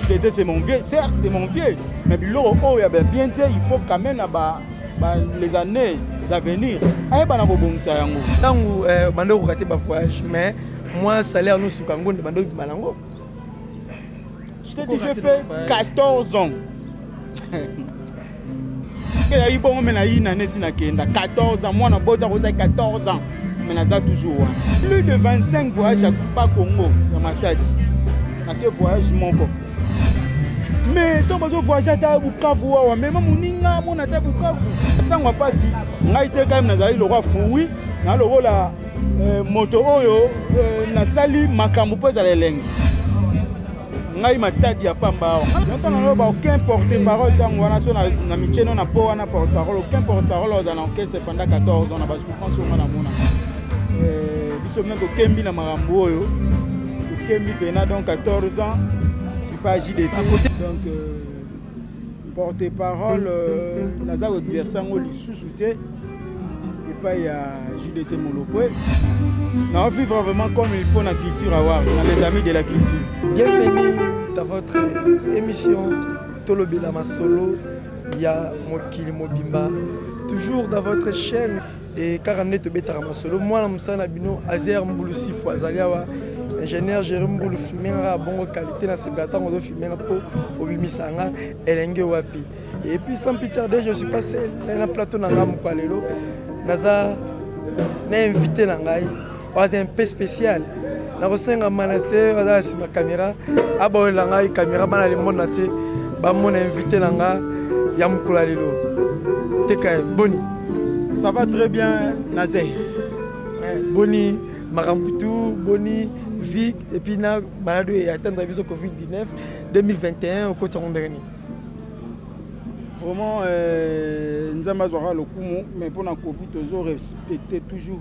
Tete c'est mon vieux, certes c'est mon vieux, mais biloko oyo ya bien te, il faut quand même na ba, ba les années à venir ayeba na kobongisa yango. Tango euh, bande ko rater ba voyage mais moi salaire nous suka ngonde bande obima nango. Je t'ai dit, j'ai fait 14 ans. eyaki bongo me nayina nesi nakenda 14 ans mwana bota kozai 14 ans me naza toujours wana plus de 25 voyage ya pa congo ya matadi nake voyage moko me ntango bazovoyage ata bukavu wawa mema moninga amona ata bukavu ntango ya mpasi ngai te kaime nazalaki lokola fui na lokola Eh, moto oyo eh, nasali makambo mpo ezala elengi ngai matadi ya pamba awa ntango naloba aucun porte parole ntango wana so na micheno na mpo wana porte parole aucun porte parole oza na orchestre pendant 14 ans na basouffrance onga namona eh, biso mpe tokembi na makambo oyo tokembi mpena donc 14 ans epa jdt donc euh, porte parole euh, naza koexerce yango lisusu te epai ya judete molokwe nao vivre vraiment comme il faut na culture awar na les amis de la culture bienvenue dans votre émission tolobela masolo ya mokili mobimba toujours dans votre chaîne e kaka nde tobetaka masolo mwana mosala na bino azer mbulusifu azali awa ingénieur jere mbulu filme nga kaka bongo qualité na sepela ntango ozofilme nga mpo obimisa nga elenge wapi et puis sans plus tarder je suis passé na plateau na nga mokwa lelo naza na invité na ngai oza un peu spécial nakosenga manase oza na nsima caméra aboyela ngai caméra bana limona te bamona invité na nga ya mokolo ya lelo teka boni ça va très bien naze boni makambo tu boni vie epuis na maladi oyo atanda biso covid 19 2021 okoti yango ndenge nini vraiment euh, nzambe azwaka lokumu mais mpo na covid tozo respecte toujours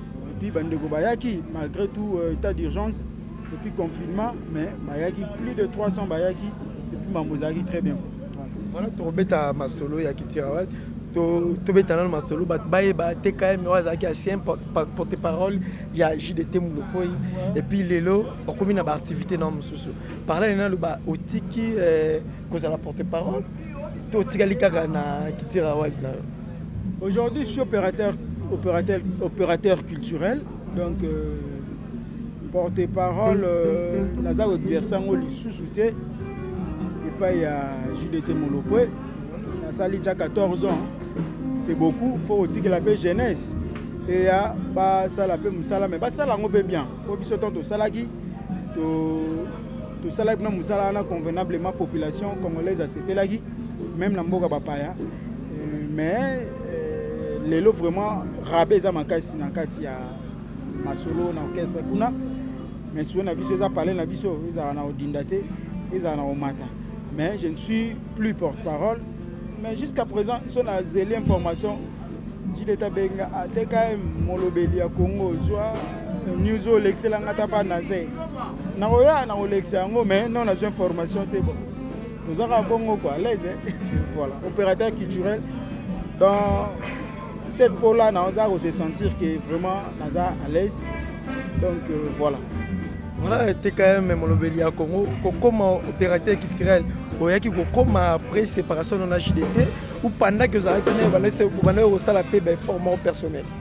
Et puis bandeko bayaki malgré tout euh, état d'urgence et puis confinement mais bayaki plus de 300 bayaki et puis mambo ezalaki très bien. Voilà tokobeta masolo ya Kitirawal tobeta nano masolo bato bayeba te km oyo azalaki ancien porte parole ya jdt molokoi epuis lelo okomi na baactivité na mosusu parlale nano ba otiki eh, kozala porte parole to otikali kaka na kitira wali na yo Aujourd'hui, je suis opérateur, opérateur, opérateur culturel. Donc, euh, porte-parole, euh, naza kodirisa yango lisusu te epai ya jdt molokwe nasali ja 14 ans c'est beaucoup faut kotikela mpe jeunesse eya basala mpe mosala mais basala yango mpe bien mpo biso ntango tosalaki tosalaki mpe mosala wana convenablement population congolaise asepelaki même na mboka bapaya mais euh, lelo vraiment rabe eza makasi na kati ya masolo na orchestre kuna mais solo na biso eza palais na biso ezala na odinda te ezala na omata mais je ne suis plus porte-parole mais jusqu'à présent so na zeli information jileta benga atkm molobeli ya congo ozwa news oyo olekisela nga ta pa naze nakoya nakolekisa yango mais non nazwa information te bon toza kaka bongo quoi alaise voilà opérateur culturel dans cette peau là naza kose sentir que vraiment naza à l'aise donc euh, voilà voilà tkm molobeli ya congo kokoma opérateur culturel oyaki kokoma après séparation nona jdt ou pendant que ozalaki naye obandaki kosala mpe baeffort moko personnel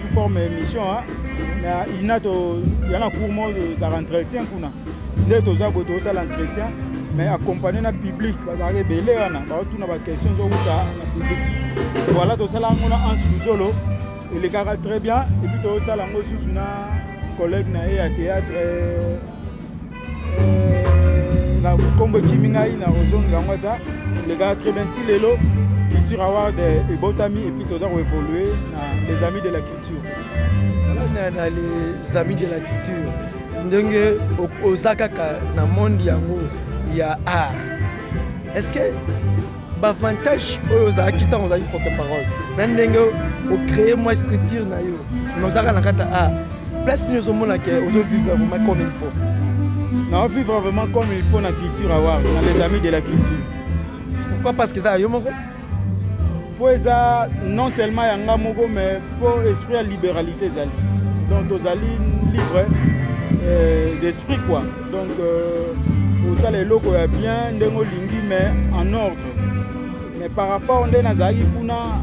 sous forme ya émission na ina toya na cour moko tozalaka entretien kuna nde toza boye tozosala entretien mais accompagne na public bazalaka ebele wana baotuna baquestion ezowuta na public voilà tosala yango na anse luzolo elekaka très bien epuis tozosala yango susu na collègue na ye ya théâtre euh, na kombo ekimi ngai na kozongela yango ata olekaka très bien ti lelo culture award ebotami epuis toza koévolue na les amis de la culture na les amis de la culture ndenge oza kaka na monde yango ya art est ce que bavantage oyo ozalaki ntango ozalaki porte parole na ndenge ocree mwa structure na yo na ozalaka na kati ya art place nini ozomona ke ozovivre vraiment comme il faut naovivre vraiment comme il faut na culture awar na les amis de la culture pourquoi parce que eza ya yo moko mpo eza non seulement ya nga moko mais mpo esprit ya libéralité ezali donc tozali libre euh, d'esprit quoi donc euh, osala eloko ya bien ndenge olingi mais en ordre mais par rapport nde nazalaki kuna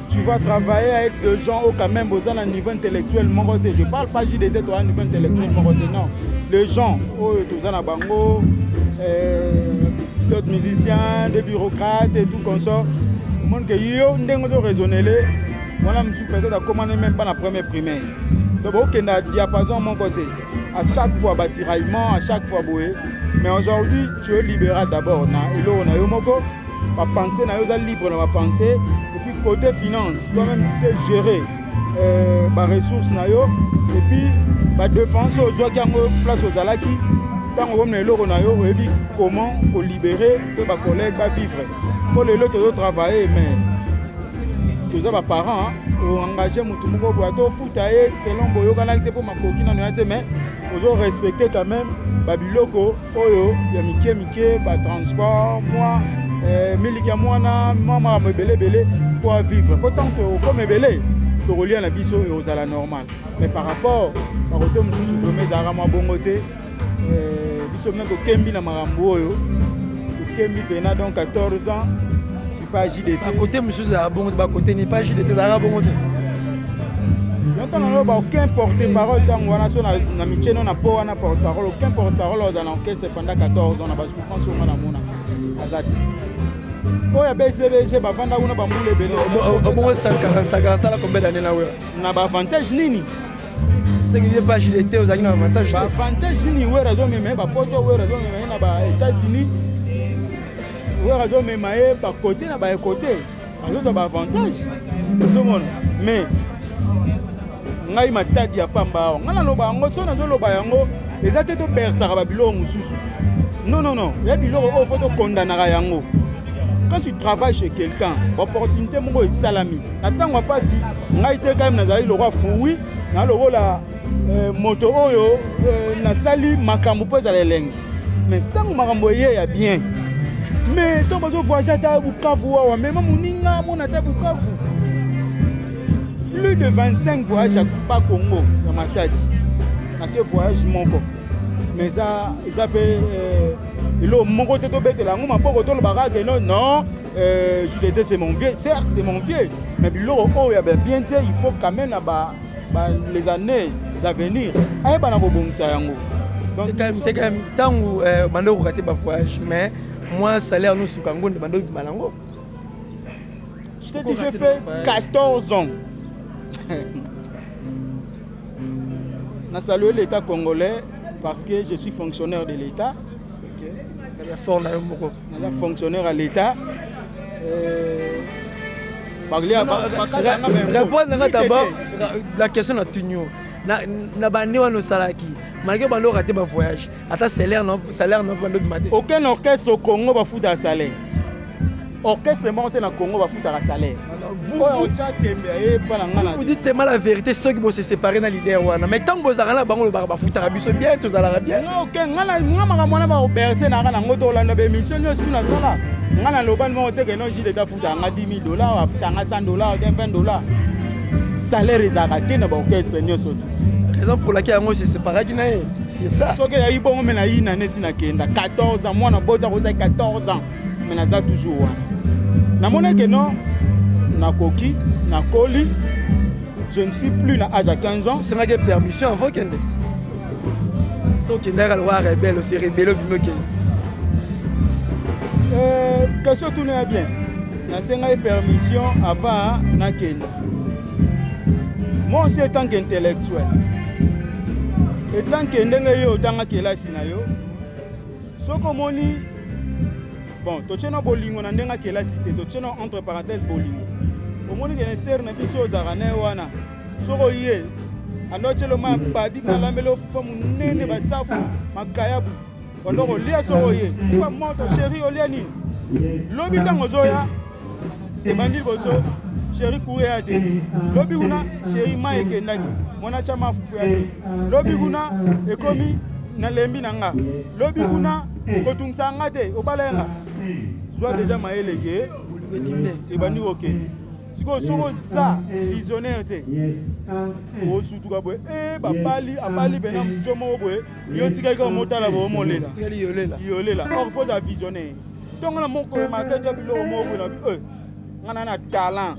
tu vas travailler avec des gens au quand même boza na niveau intellectuel moko te je parle pas juste de toi niveau intellectuel moko te non les gens oyo toza na bango euh, d'autres musiciens des bureaucrates et tout consort omoni ke yo ndenge ozo raisonnele wana mosusu peut-être akomani même pas na premier primaire donc bokenda diapason moko te à chaque fois batiraillement à chaque fois boye mais aujourd'hui tu es libéral d'abord na eloko na yo moko bapense na yo oza libre na bapense epuis côté finance toi-même tu sais gérer euh, baressource na yo epuis badefense ozwaki yango place ozalaki ntango okomi na eloko na yo oyebi comment kolibere mpe bacollègue bavivre mpo lelo tozotravaille mais toza baparent oengage motu moko boya to ta ye selon boyokanaki te mpo makoki nano ya te mais ozo respecte quand même babiloko oyo ya mike mike batransport mwa eh, miliki ya mwana mwa makambo ebele ebele mpo avivre mpo ntango tokoma ebele tokolia na biso ekozala normal mais par rapport bakote mosusu vraimen ezalaka mwa bongo te eh, biso mpe tokembi na makambo oyo tokembi mpena donc 14 ans pas JDT. À côté, monsieur, c'est bon, à côté, n'est pas JDT, c'est bon. yonto naloba aucun porte parole ntango wana so na mitie no na po wana porte parole aucun porte parole oza na orchestre pendant 14 ans na basouffrance onga na mona aza te oyo ya bcbg bavanda kuna bambula ebele obongo sakara sakara asala combien d'année na wera na baavantage nini soki ye page de te ozalaki na avantage ba avantage nini wera azomema ye bapoto wera azomema ye na ba états-unis wera azomema ye bakote na baekote azozwa baavantage ozomona mais ngai matadi ya pamba awa ngai naloba yango soki nazoloba yango eza te tobersaka babiloko mosusu non non non ya biloko oyo fo tokondanaka yango quand tu travailles chez quelqu'un opportunité moko esalami na ntango ya mpasi ngai te kayeme nazalaki lokola fui na lokola eh, moto oyo eh, nasali makambo mpo ezala elengi me ntango makambo eye ya bien me ntango bazovoyage ata bukavu wawa mema moninga mona ata bukavu plus de 25 voyage ya pa congo ya matadi ake voyage moko me eza mpe eh, eloo moko te tobetela yango maboko tolobaka keno non Euh, JDT c'est mon vieux, certes c'est mon vieux, mais biloko oyo ya bien te, il faut quand même na ba, ba les années à venir, ayeba na kobongisa yango. Donc teka tangu euh, bande ko rater ba voyage mais moi salaire nous suka ngo nde bande bima nango. Je t'ai dit j'ai fait 14 ans. na saluer l'état congolais parce que je suis fonctionnaire de l'état. naza fonctionnaire ya l'état euh, répondre nanga d'abord la question na tunio na bande wana osalaki malgré bande oka te bavoyage ata salaire na bande obima te aucun orchestre au congo bafuta salaire orchestre moko te na congo bafutaka salaire vous dites seulement la vérité soki bose séparé na leader wana mais ntango bozalaka na bango lobaka bafutaka biso bien tozalaka bien nga makambo wana bakoberse nanga nango tolanda baémission nyonso tu nasala nga naloba nimo oteke no jile tafutaka nga 10 000 dollar afutaka nga 100 dollar 20 dollar salaire ezalaka te na baorchestre nyonso tu raison pour laquelle yango se séparaki na ye sur ça soki ezalaki bongo me nayina nesi nakenda 14 ans mwana boti akozaki 14 ans me naza toujours wana namoni ke non nakoki nakoli je ne suis plus na age ya 15 ans osengaki permission avant kende tokendaka lokola rebele ose rebele obimi okende euh, question tuna ya bien nasengaki permission avant nakenda moi aussi etant qu'intellectuel etant que ndenge yo otanga kelasi na yo soki omoni bon totye na bolingo na ndenge akelasi te totye na entre parenthèse bolingo omoni kene sere na biso ozalaka na ye wana soki oye andotyelo ma babi malambeli ofufa monene basafu makayabu ondo kolia soki oye fufa moto sheri olia nini lobi ntango ozoya ebandi bozo sheri kure ya te lobi kuna sheri ma ekendaki mwana tya mafufu ya te lobi kuna ekomi nalembi na nga lobi kuna kotungisa nga te obala ya nga zwa deja mayele ke ebandi kokende sikoyo soki oza visionnaire te osutuka boye e eh, babali abali bena moco moko boye yo tikali kaka motala boye omolela yolela or fo oza visionnaire ntongo na moko emaka etya biloko moko boye na bi eh, ngai na na talent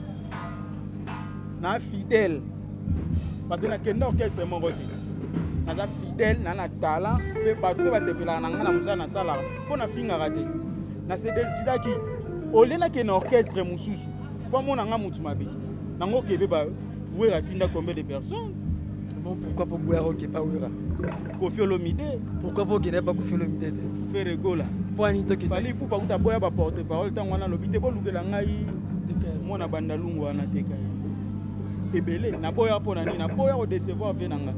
na fidèle parce que nakenda orchestre moko te naza fidèle na na talent mpe bato mpe basepelaka na ngai na mosala nasalaka mpo nafingaka te na se desidaki olie nakende orchestre mosusu mpo amona ngai motu mabe nango kebe wera atinda combien de personnes bon pourquoi po boya oke pa wera kofi olomide pourquoi po okenda pa kofi olomide te fere gola pwani tokefali pupa kuta boya ba porte parole ntango wana alobi te bolukela ngai mwana bandalungu wana te kai ebele naboya mpo na nini naboya kodecevoir vie na nga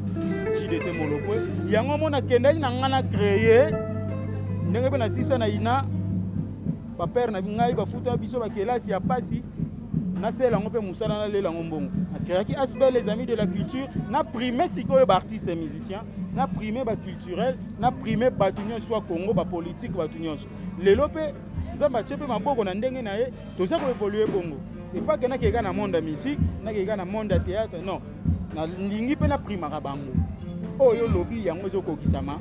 jidete molopwe yango mona akendaki na ngai na creye ndenge mpe na sisa na ina bapere na ngai bafuta biso bakelasi ya mpasi nasela yango mpe mosala nalela yango mbongo nakreaki asbel les amis de la culture na prime sikoyo baartiste musicien na prime baculturel na prime bato nyonso ya congo bapolitike bato nyonso lelo mpe nzambe atye mpe maboko na ndenge na ye toza koevolue bongo c'est pas ke nakeka na monde ya musique nakeka na monde ya théâtre non nalingi mpe naprimaka bango oyo olobi yango ezokokisama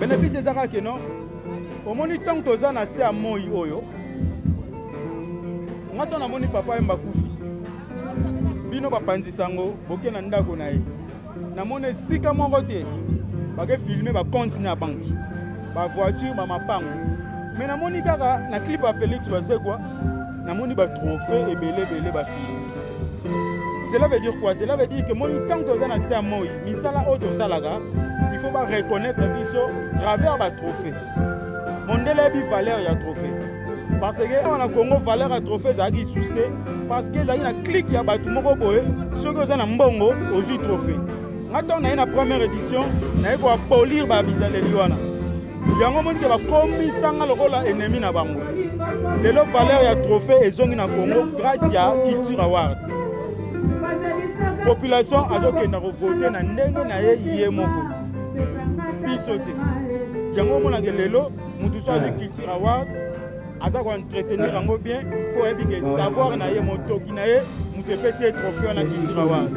bénéfice eza kaka keno omoni ntango toza na se ya moi oyo nga to namoni papa yemba kufi bino bapanzi sango boke na ndako na ye namoni esika moko te bake filme bacompte na banki bavoiture bamapango me namoni kaka na clip ya félix bazekwa namoni ba trophée ebele ebele ba fini cela veut dire quoi cela veut dire que moi tant que toza na se ya moi misala oyo tosalaka il faut ba reconnaître biso travers ba trophée mondele yebi valeur ya trophée parce que awa na congo valeur ya trophée ezalaki lisusu te parce que ezalaki na clike ya bato moko boye soki oza na mbongo ozwi trophée nga ntango naye na première édition naye koapolir babizaleli wana yango omoni ke bakomisa nga lokola ennemi na bango lelo valeur ya trophée ezongi na congo grâce ya culture award population azokenda kovote na ndenge na ye ye moko biso te yango omonaka lelo motu so azwi culture award aza koentretenir yango bien mpo oyebi ke savoir na ye motoki na ye moto epesi ye trophée wana culture award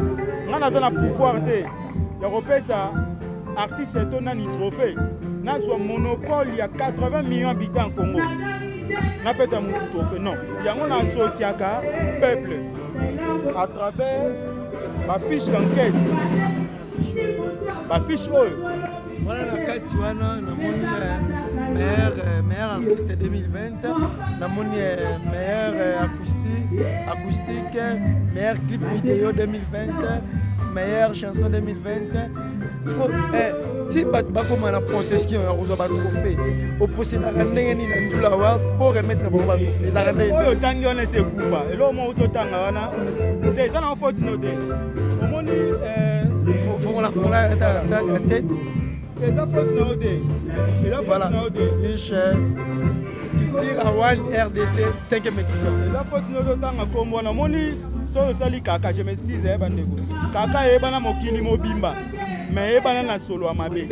ngai naza na pouvoir te ya kopesa artiste to nani trophée nazwa monopole ya 80 millions habitants en congo napesa motu trophée non yango na associaka peuple à travers bafiche d'enquête bafiche oyo wana na kati wana namoni eh, meilleur eh, meilleur artiste 2020 namoni eh, meilleur acoustique acoustique meilleur clip vidéo 2020 meilleure chanson 2020 siko eh, ti bato bakoma na possession ya kozwa batrophée oposedaka ndenge nini na ndula wa mpo remettre bango batrophée ezaka ndeoyo otangi wana esi ekufa eloko moko totanga wana te eza na ofotino te eza foti na yo te eza foti na yo te culture awal rdc 5 émission eza foti na yo te otanga nkombo wana omoni soki osali kaka je m'excuse ya eh, bandeko kaka eyebana mokili mobimba me eyebana na solo ya mabe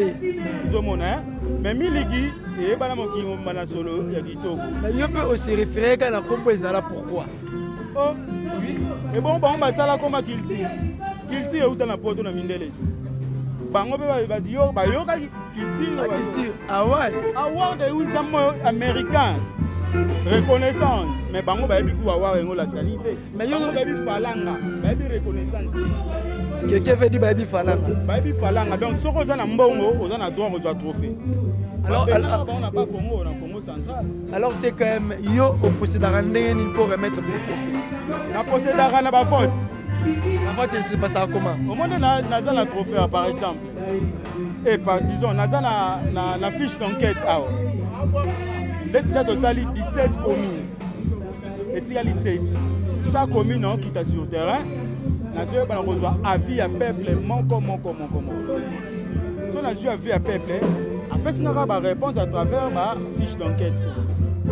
ozomona eh? me miliki eyebana mokili mobimba na solo ya kitoko yo mpe oserefere kaka na nkombo ezala pourkui oh, oui. ebongo bango basala koma culture culture euta na poto na mindele bango mpe bayokaki culture award award euza moyo américain reconnaissance mais bango bayebi ku award yango olakisa nini te bayebi falanga bayebi reconnaissance te keke vedi bayebi falanga bayebi falanga donc soki oza na mbongo oza na droit kozwa trophée alors bango na ba congo na congo central alors te quand même yo oposedaka ndenge nini mpo remettre pour trophée naposedaka na bafaute bafaute ese pasaka koma omoni naza na trophée ah, par exemple e par disons naza na, na, na fiche d'enquête awa nde deja tosali 17 commune etikali 7 chaque commune aokita sur terrain nazoyebana kozwa avis ya peuple moko moko moko moko so nazwi avis ya peuple apesi nga kaka baréponse à travers bafiche d'enquête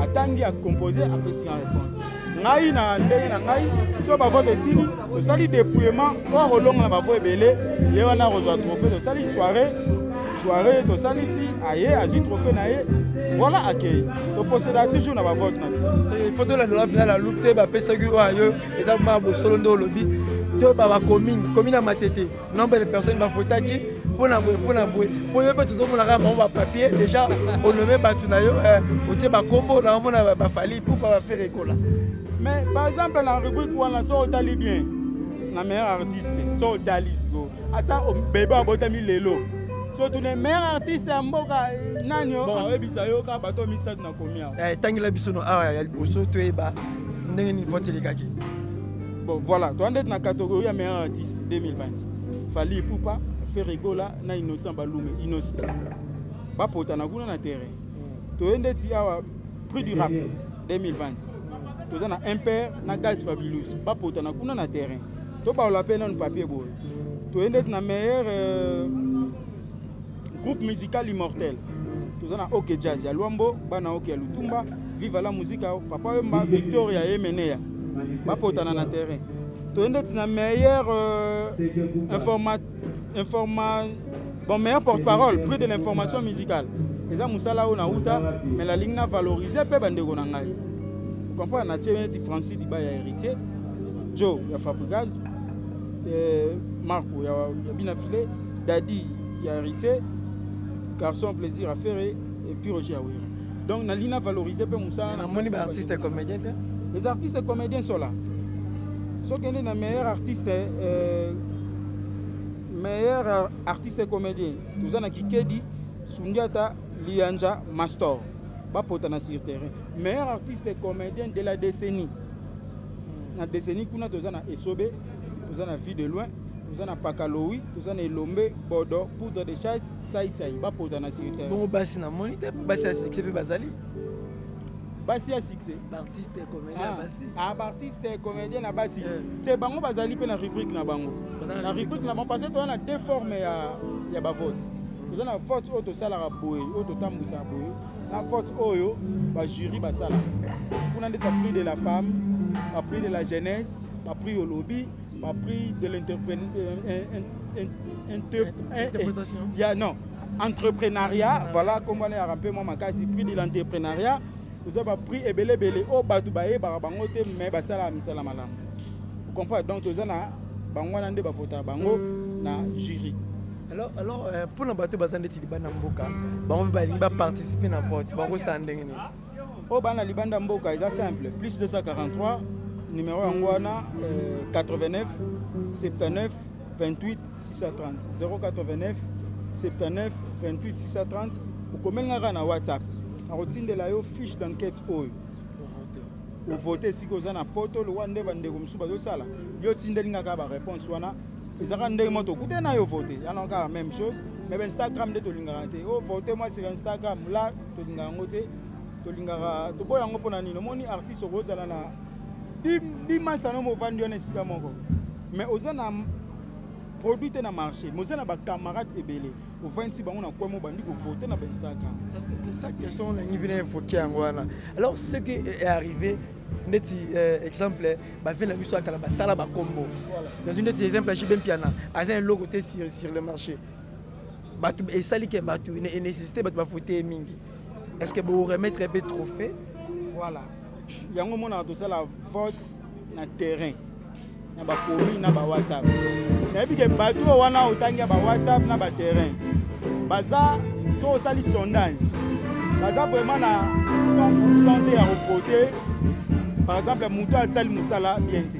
atangi acompose apesi nga réponse ngai na ndenge na ngai so bavote esili tosali dépouillement mpo akolonga na bavo ebele ye wana akozwa trophée tosali soirée soirée tosalisi aye azwi trophée na ye voilà accueil toposeda toujours na bavote na biso faut tolandela mpena na loup te bapesaki oyo yo eza ma bosolo nde olobi to babakomine komine ya matete nombre de personnes bafotaki mpona boye mpona boye mpo yo mpe tozomonaka bango bapapier déjà onome bato na yo eh, otie bakombo na omona bafali pourkoi bafere ekola mais par exemple na rubrique wana so otali bien na meilleur artiste so otali siko ata bebe abotami lelo so tune meilleur artiste ya mboka eh, nani oyebisa yo kaka bato misato na komi awa etangela eh, biso no awa ya liboso toyeba ndenge nini foti elekaki bon voilà toza ndeti na catégorie ya meilleur artiste 2020 fali ipupa ferigola na innocent balume innosb bapotana kuna na terrain mm. toye ndeti awa prix du rap 2020 toza na impere na gaz fabulus bapotana kuna na terrain tobaola mpe nanu papier boye toye ndeti na meilleur euh, groupe musical immortel toza na ok jazz ya lwambo bana ok ya lutumba viva la musica papa wemba victoria ye meneya bapotana na terrain toye ndeti na meilleur euh, informa, informa, bon meilleur porte parole prix de l'information musicale eza mosala oyo nauta me nalingi na valorize mpe bandeko na ngai comprendre natie neti francis diba ya héritier joe ya fabrigaz eh, marco ya, ya bina filet Daddy ya Heritier, Garçon Plaisir à Ferre et puis Roger Awira. Donc na lina valoriser pe musala na moni ba artistes comédiens te. Les artistes comédiens sont là. Ce qui est na meilleur artiste euh, meilleur artiste comédien. Nous avons Kikedi, Sundiata, Lianja, Mastor. Ba potana sur terrain. Meilleur artiste comédien de la décennie. Na décennie kuna tozana esobe toza na vie de loin toza na pakalowi toza na elombe bodo poudre de chasse saisai bapota na sirte bongo basi na moni te basi ya succès mpe bazali basi ya succès baartiste comédien basi ah baartiste ah, comédien na basi eh. te bango bazali mpe na rubrique na bango na rubrique na bango parce que toza na deux forme ya, ya bavote toza na vote oyo tosalaka boye oyo totambwisaka boye na vote oyo bajury basalaka kuna nde ta prix de la femme ba prix de la jeunesse ba prix olobi ba prix de l'interprétation ya non entrepreneuriat voilà kombo na yaka mpe mwa makasi prix de l'entrepreneuriat oza ba prix ebele ebele oyo bato bayebaka bango te mais basalaka misala malamu comprendre donc toza na bango wana nde bafotaka bango na jury alors alors euh, mpo na bato baza ndeti libanda mboka bango mpe balingi baparticipe na vote bakosala ndenge nini oyo bana libanda mboka eza simple plus 243 numero yango wana 89 79 28 630 089 79 28 630 okomeli nga kaka na whatsapp nakotindela yo fiche d'enquête oyo ovote esika oza na poto lokola nde bandeko mosusu bazosala yo otindeli nga kaka baréponse wana eza kaka ndenge moko tokutani na yo vote yana kaka meme chose mais bainstagram nde tolingaka te ovote oh, mwasi ya instagram la tolinga yango te tolingaka toboya yango mpo na nini omoni artiste okozala na bimasano movandi wana esika moko mais oza na produit te na marché mais oza na bacamarade ebele ovandisi bango na kwemo bandi kovote na bainstagram question olingi bino evoke yango wana alors ce qui est arrivé ndeti euh, exemple bavele na biso ya kala basala bakombo nazwi ndeti exemple ya jibe mpiana aza eloko te sur le marché bato esali ke bato nécessité bato bafote ye mingi est ce que boremettre mpe trophée voilà yango omonaka tosala vote na terrain na bakomi na bawhatsapp nayebi ke bato oyo wana otangi ya bawhatsapp na baterrain baza so osali sondage baza vraiment na 100 te ya kovote par exemple moto asali mosala bien te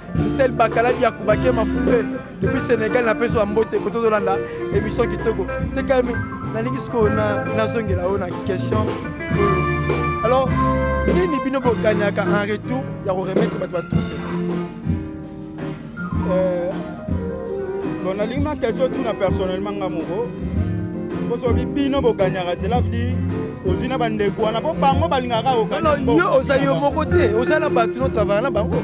Christelle Bakala Diakou Bakema Fumbe depuis Sénégal na peso mbote ko tozolanda émission kitoko te quand même nalingi siko na nazongela oyo na question alors nini bino bokanyaka en retour ya ko remettre bato ba trouve euh, bon nalingi na question tuna personnellement nga moko mpo soki bino bokanyaka cela veut dire ozwi na bandeko wana mpo bango balingaka yo oza yo moko te oza na bato no travaillaka na bango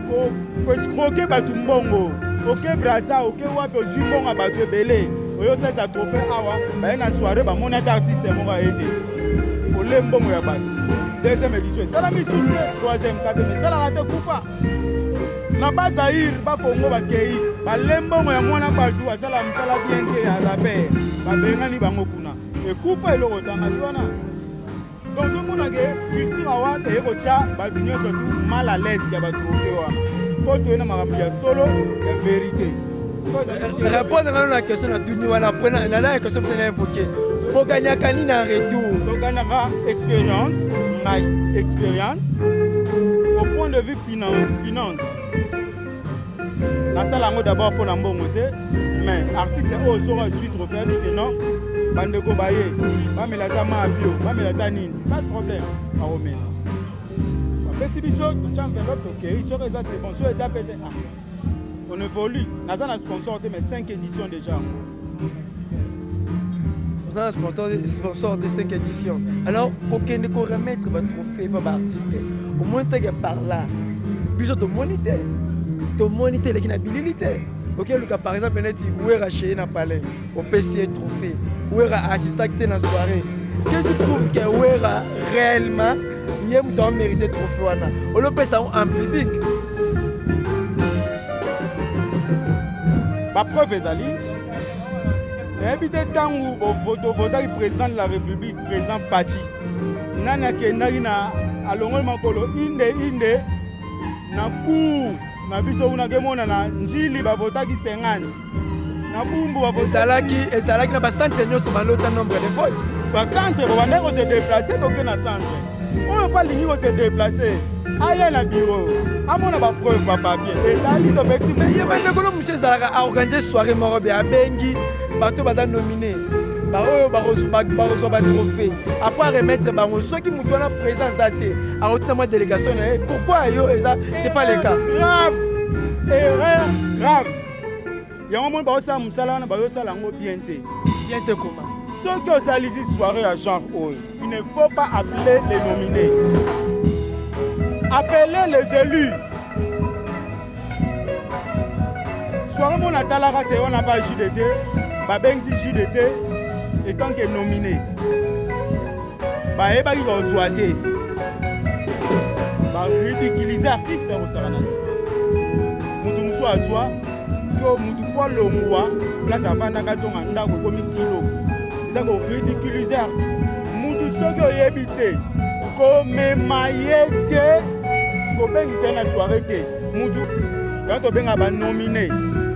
koescroke bato mbongo oke braza oke wapi ozwi mbongo ya bato ebele oyo osalisa trophée awa baye na soirée bamoni ata artiste moko aye te ole mbongo ya bato deuxième édition esalami susu te troisième quatrième esalaka te kufa na bazaire bakongo bakei bale mbongo ya mwana bato asala mosala bien te ya raper babengani bango kuna ekufa eloko tanga wana donc ozomona ke culture awa eye kotya bato nyonso tu mal à l'aise ya batrofe wana mpo toye na makambo ya solo ya verité répondre nano na question na tuni wana mpo nalaya question mpe na évoke bogagnaka nini en retour togagnaka expérience ngai expérience au point de vue finance nasala yango d'abord mpo na mbongo te mais artiste oyo soki azwi trophée abi te non bandeko baye bamela ata maa bio bamela ata nini pas de problème akomela bapesi biso totya enveloppe tokei soki eza c'est bon soki eza mpe te ah on évolue naza na sponsor te mais 5 édition déjà yango oza na sponsor de 5 édition alors kokende koremettre batrophée pa baartiste omoni teke par là biso tomoni te tomoni te eleki na bilili te okeluka par exemple neti wera cheye na palais opesi ye trophée wera assistaki te na soirée qu'est-ce qui prouve que wera réellement ye moto a mérite trophée wana olopesa yango en public bapreuve ezali nayebi te ntango bovotaki président de la république président faci nani akendaki na alongoli makolo inde inde na cour na biso kuna kemonana njili bavotaki 50 ezalaki ezalaki na bacentre nyonso balota nombre de vote bacentre bobandaki kose deplace toke na centre oyo mpo alingi kose deplace aya na biro amona bapreuve bapapier ezali tobeti ye bandekolo mosu ezalaka aorganize soirée moko be abengi bato baza nomine baoyo bakozwa batrophée apres aremettre bango soki moto wana présent aza te akoti na mwa délégation na ye pourquoi yo eza c'est pas le cas grave erreur grave yango moni baosala mosala wana bayosala yango bien te bien te koma soki osalisi soirée ya genre oyo il ne faut pas appeler les nominés appeler les élus soirée mona atalaka se wana ba jude te babengisi jude te etant que nominé bayebaki kozwa te baridikilize artiste ya kosakana te moto mosusu azwa sikoyo moto po alongwa place afandaka azonga ndako ekomi kilo eza koridikilize artiste moto soki oyebi te komema ye te kobengisa ye na soire te moto yango tobenga banomine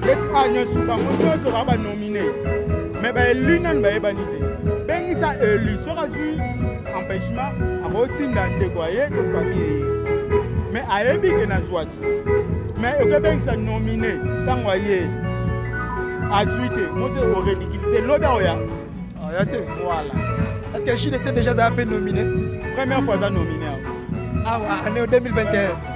leti a nyonso bango nyonso baa banomine me baelu nanu bayebani te bengisa elu soki azwi empêchement akotinda ndeko aye to famille eye me ayebi ke nazwaki me okebengisa nomine ntango aye azwi te moto oredikilise lobi aoya aya te voilà est ce que chine était déjà aza mpe nomine première fois aza nomine awa année 2021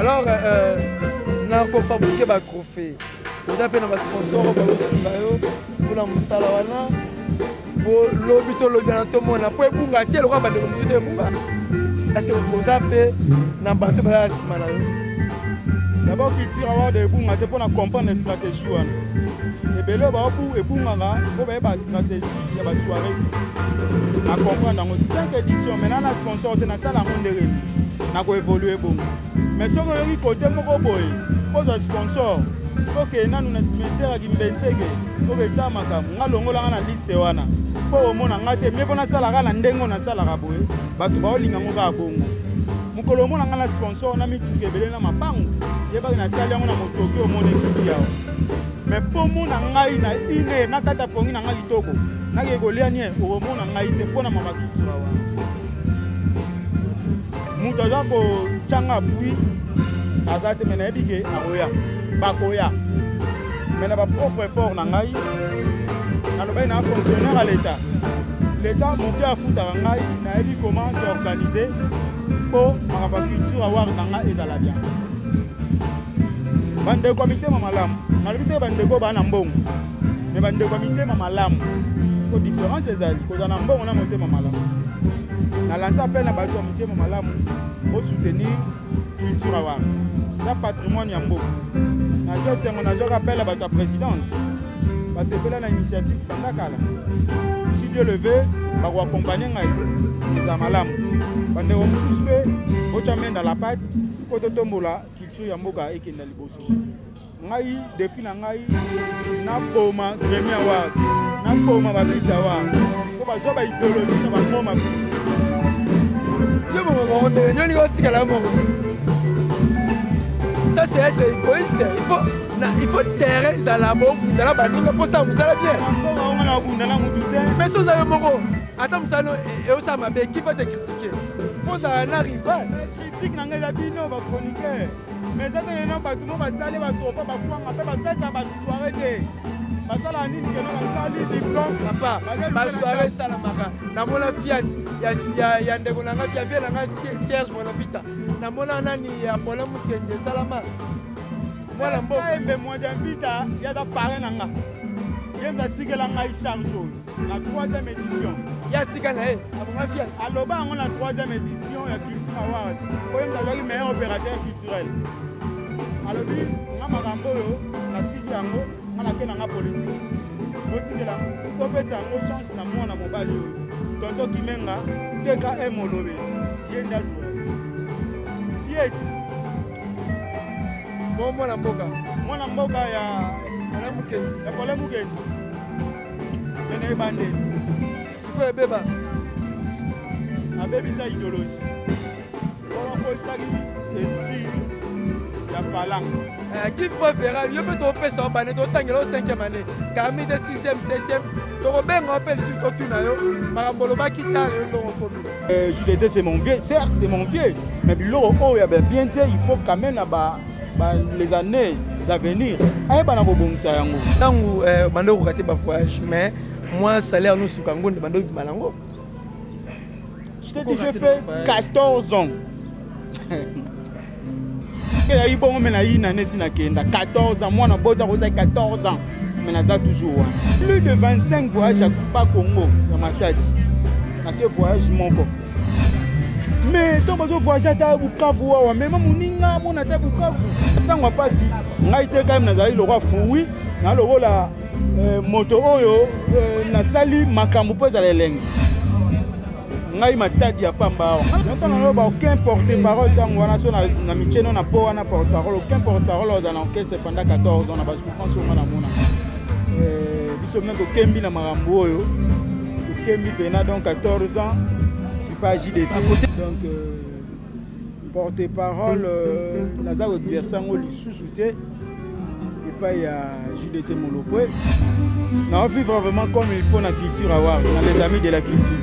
alors euh, na kofabrike batrophée oza mpe na basponsor bakosunga yo mpona mosala wana lobi tolobelana tomona mpo ebunga te lokola bandeko mosusu te ebunga parceke oza mpe na bato bazala nsima na yo dabord culture award ebunga te mpo na comprendre stratégie wana ebele baobu ebungaka mpo bayeba stratégie ya ba soirée te na comprendre yango 5 édition maintenant na sponsor te nasala yango ndenge nini nako évoluer bongo mais soki oyoki kote moko boye kozwa sponsor okende nanu na cimetière ya kimbenzeke okesa makambo nga longolanga na liste wana mpo omona nga te mie mpo nasalaka na ndenge oyo nasalaka boye bato baolinga ngo kaka bongo mokolo omona nga na sponsor na mituka ebele na mapango yebaki nasali yango na motoki omona ekiti yawa me pomona ngai na ine na kati ya pongi na ngai kitoko nakei kolia nie okomona ngai te mpo na mama cultura wana moto aza kotyanga bwi aza te me nayebi ke akoya bakoya me na bapropre effort na ngai nalobaki na fonctionnaire ya leta leta moke afutaka ngai nayebi comment s'organiser mpo makambo ya culture awar na ngai ezala bien bandeko ya mitema malamu nalobi te bandeko baa na mbongo me bandeko ya mitema malamu po différence ezali kozala na mbongo na motema malamu na lanse apele na bato ya mitema malamu bosoutenir culture awar eza patrimoine ya mboka nazwa esengo nazwaka apele ya bato ya présidence basepela na initiative banda kala si dieu leve bakoakompagne ngai eza malamu bandeko mosusu mpe botya menda la pate mpo totombola culture ya mboka ekenda liboso ngai defi na ngai naboma gremi award naboma babiti award mpo bazwa baideologie na bango mabe yo moko moko nde nyoni otikala yo moko ça c'est être égoïste il faut na il faut terrain ezala bobunda na baninga mpo sala mosala bien mais so oza yo moko ata mosala eosala mabe kifa te critique fo ozala na rival tiki na ngai eza bino ba chroniqueur mais eza te yena bato mo basali batofa bakwanga mpe basalisa basoire te basalaka nini keno basali diplome papa basoire esalamaka namona fiat ya ndeko na ngai ya vie na ngai serge monavita namona nani ya pole mokenge esalama mwana mbokaembe mwa dianvita yaza pare na nga ye mpe atikela ngai charge oyo na 3e édition ya tika na ye aboma fia aloba yango na 3e édition ya culture award oyo moto azwaki meilleur opérateur culturel alobi nga makambo oyo natiki yango nga nake na nga politike botikela topesa yango chance na mwana mobali oyo tonto kimenga tkm olobe ye nde azwa fieti mwana mboka mwana mboka ya pole mukendi ena ebandeli sikoyo ebeba abebisa ideologie okotisaki esprit ya falanga eh, qui fois verra yo mpe tokopesa yo bane totangela yo 5e année kami te 6e 7e tokobenga yo mpe lisusu totuna yo makambo olobaki tala yo ndongo komi eh, judete c'est mon vieux certes c'est mon vieux mais biloko oyo ya bien te il faut quand même na ba ba les années à venir ayeba na kobongisa yango ntango eh, banda okokate ba voyage mais moi salaire nosuka yango nde banda obima nango je t'ai dit j'ai fait 14 ans eyaki bongo me nayina nesi nakenda 14 ans mwana bota kozai 14 ans me naza toujours wana plus de 25 voyage ya ba congo ya matadi nake voyage moko mais ntango bazo voyage ata bukavu wawa mema moninga amona ata bukavu ntango ya mpasi ngai te kayeme nazali lokola fui na lokola eh, moto oyo eh, nasali makambo mpo ezala elengi ngai matadi ya pamba awa ntango naloba aucun porte parole ntango wana so na micheno na mpo wana porte parole aucun porte parole oza na orchestre pendant 14 ans na basouffrance onga na mona eh, biso mna tokembi na makambo oyo Kemi Pena, donc 14 ans, pas agi de Donc, euh, porte-parole, euh, naza koexerce yango lisusu te epai ya judete molokwe nao vivre vraiment comme il faut na culture awar na les amis de la culture